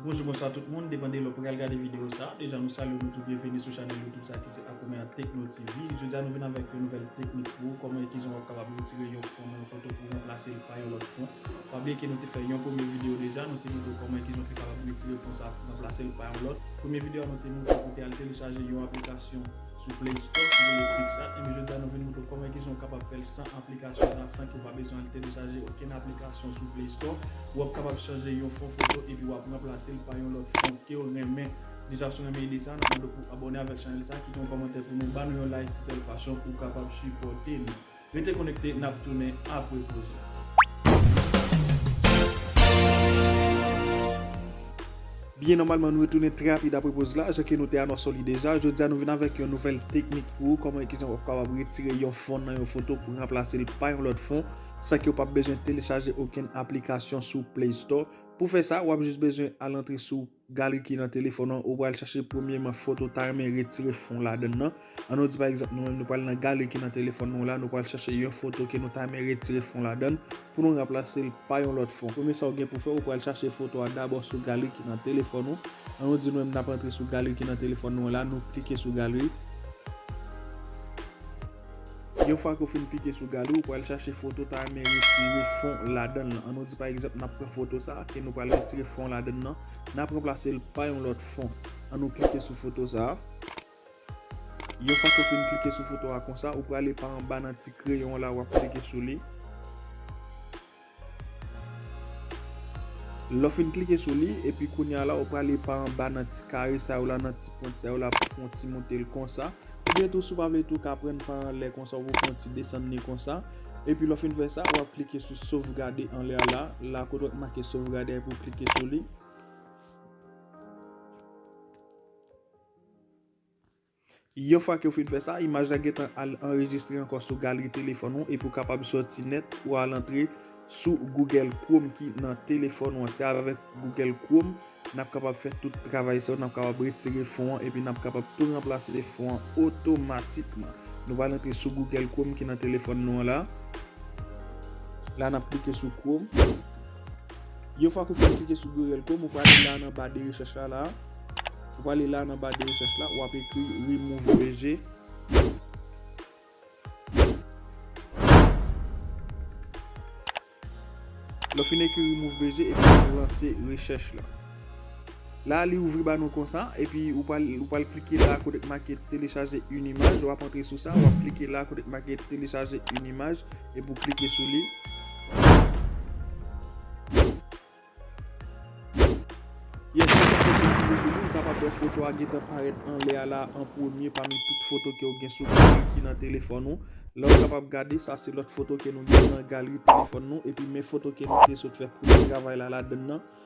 Bonjou bonswa tout moun depande lè ou pral gade video sa deja nou salye nou tou byenvini sou chanèl youtube sa ki se Akoumea Tekno TV jodi a nou vin avèk yon nouvèl teknik pou ou kòman e kijan wap kapab retire yon fon nan yon foto pou ranplasel pa yon lòt fon. Pa bliye ke nou te fè yon premye video deja, nou te montre w kòman ekijan w te kapab retire fon sa pou ranplase l pa yon lòt. Premye video a nou te montre w pou w te al telechaje yon aplikasyon sou play store ki rele Picsart, enben jodi a nou vin montre w kòman ekijan w kapab fè l san aplikasyon sa, san ke w pa bezwen al telechaje okenn aplikasyon sou play store. Ou ap kapab chanje yon fon foto epi w ap ranplase l pa yon lòt fon ke w renmen. Deja si w renmen ide sa, n ap mande w pou w abòne avèk chanèl sa, kite yon kòmantè pou nou, ba nou yon like, se sèl fason ou kapab sipòte nou. Rete konekte nap tounen apre poz la. Byen nòmalman nou retounen trè rapid apre poz la, jan ke nou te anonse li deja, jodia nou vin avèk yon nouvèl teknik pou ou kòman e kijan wap kapab retire yon fon nan yon foto pou ranplase l pa yon lòt fon san ke ou pap bezwen telechaje okenn aplikasyon sou play store, pou fè sa wap jis bezwen al antre sou. Galeri ki nan telefòn an, ou pral chache premyeman foto ou ta renmen retire fon ladan nan. An nou di pa egzanp nou menm nou pral nan galeri ki nan telefòn nou la, nou pral chache yon foto ke nou ta renmen retire fon ladan l pou nou ranplase l pa yon lòt fon. Premye sa ou gen pou fè, ou pral chache foto a dabò sou galeri ki nan telefòn ou. An nou di nou menm n ap antre sou galeri ki nan telefòn nou an la, nou klike sou galeri. Yon fwa ke w fin pike sou galeri, ou pral chache foto w ta renmen retire fon ladan l lan. An nou di pa egzanp n ap pran foto sa a ke nou pral retire fon ladan l lan, n ap ranplase l pa yon lòt fon. An nou klike sou foto sa a. Yon fwa ke w fin klike sou foto a konsa, ou prale pa anba nan ti kreyon w la, w ap klike sou li. Lè w fin klike sou li, epi kounye a la ou prale pa anba nan ti kare sa yo la, nan ti pwent sa yo la pou fè yon ti monte l konsa. Oubyen tou si w pa vle tou ka pran l pa anlè konsa, ou pou fè yon ti desann li konsa. Epi lè w fin fè sa, w ap klike sou sovgade anlè a la, la kote ki make sovgade a epi ou klike sou li. Yon fwa ke ou fin fè sa, imaj la gentan al anrejistre ankò sou galri telefòn ou epi ou kapab sòti nèt pou al antre sou Google Chrome ki nan telefòn ou an. Se avèk Google Chrome n ap kapab fè tout travay sa yo, n ap kapab retire fon an epi n ap kapab tou ranplase fon an otomatikman. Nou va al antre sou Google Chrome ki nan telefòn nou an la. La n ap klike sou Chrome. Yon fwa ke w fin klike sou Gorel Chrome, ou prale la nan ba de rechèch la la. Ou prale la nan ba de rechèch la, wap ekri remove VG. Lè w fin ekri remove VG, epi wap lanse rechèch la. La li ouvri ba nou konsa, epi ou pral ou pral klike la kote ki make telechaje yn imaj, wap antre sou sa, wap klike la kote ki make telechaje yn imaj epi ou klike sou li. Yes yon fwa ke fon klike sou li ou kapab wè foto a gentan parèt anlè a la an premye pami tout foto ke ou gen sou galri ki nan telefòn ou. La ou kapab gade sa se lòt foto ke nou gen nan galri telefòn nou epi men foto ke nou te sot fè premye travay la ladann nan.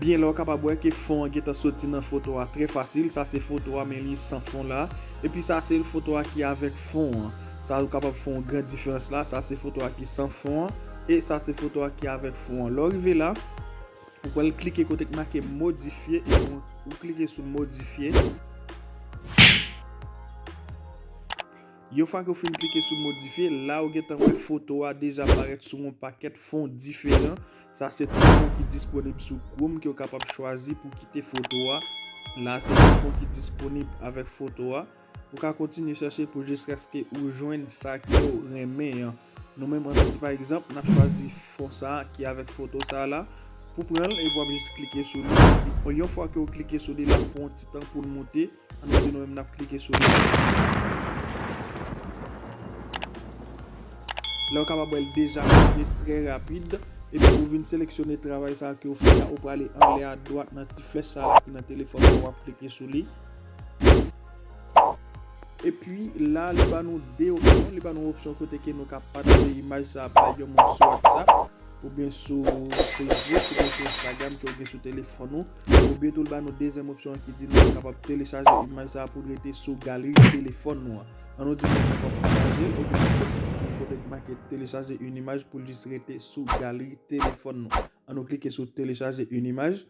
Byen la ou kapab wè ke fon an gentan soti nan foto a trè fasil, sa se foto a men li san fon la, epi sa se foto a ki avèk fon an, sa ou kapab fè yon gran diferans la, sa se foto a ki san fon an, e sa se foto a ki avèk fon an. Lè ou rive la, ou pral klike kote ki make modifye, ou klike sou modifye. Yon fwa ke ou fin klike sou modifye, la ou gentan wè foto a deja parèt sou yon pakèt fon diferan. Sa se tout fon ki disponib sou Chrome ke ou kapab chwazi pou kite foto a. La se tout fon ki disponib avèk foto a. Ou ka kontinye chache pou jiskaske ou jwenn sa ke ou renmen an. Nou menm an nou di pa egzanp, nap chwazi fon sa ki avèk foto sa la. Pou pran l, epi wap jis klike sou li. Yon fwa ke ou klike sou li, lap pran yon ti tan pou l moute. An nou di nou menm nap klike sou li. Lè ou kapab wèl deja monte trè rapid. Epi ou vin seleksyone travay sa ke ou fè la. Ou prale anlè a dwat nan ti flèch sa la ki nan telefòn ou an wap klike sou li. Epi la li ba nou 2 opsyon. Li ba nou opsyon kote ke nou ka pataje imaj sa bay yon moun sou WhatsApp. Ou byen sou Facebook, ou byen sou Instagram ke ou gen sou telefòn ou. Oubyen tou li ba nou dezyèm opsyon an ki di nou kapab telechaje imaj sa a pou l rete sou galri telefòn nou an. An nou di moun kapab pataje l oubyen nou eksplike kote ki make telechaje yn imaj pou l jis rete sou galri telefòn nou. An nou klike sou telechaje yn imaj.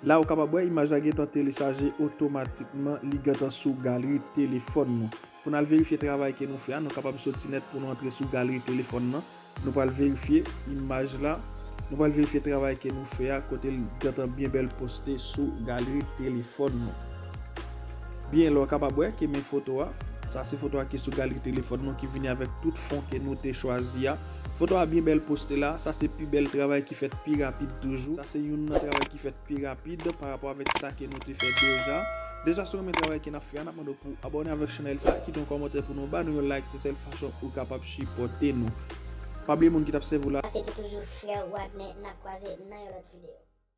La ou kapab wè imaj la gentan telechaje otomatikman li gentan sou galri telefòn nou. Pou n al verifye travay ke nou fè a nou kapab soti nèt pou nou antre sou galri telefòn nan. Nou pral verifye imaj la, nou pral verifye travay ke nou fè a kote li gentan byen bèl poste sou galri telefòn nou. Byen la ou kapab wè ke men foto a, sa se foto a ki sou galri telefòn nou ki vini avèk tout fon ke nou te chwazi a. Foto a byen bèl poste la, sa se pi bèl travay ki fèt pi rapid toujou, sa se youn nan travay ki fèt pi rapid pa rapò avèk sa ke nou te fè deja. Deja si w renmen travay ke nap fè a nap mande w pou w abòne avèk chanèl sa, kite yon kòmantè pou nou ba nou yon like se sèl fason ou kapab sipòte nou. Pa bliye moun ki tap sèvi w la. Sa se ki toujou frè w Wadner nap kwaze nan yon lòt video.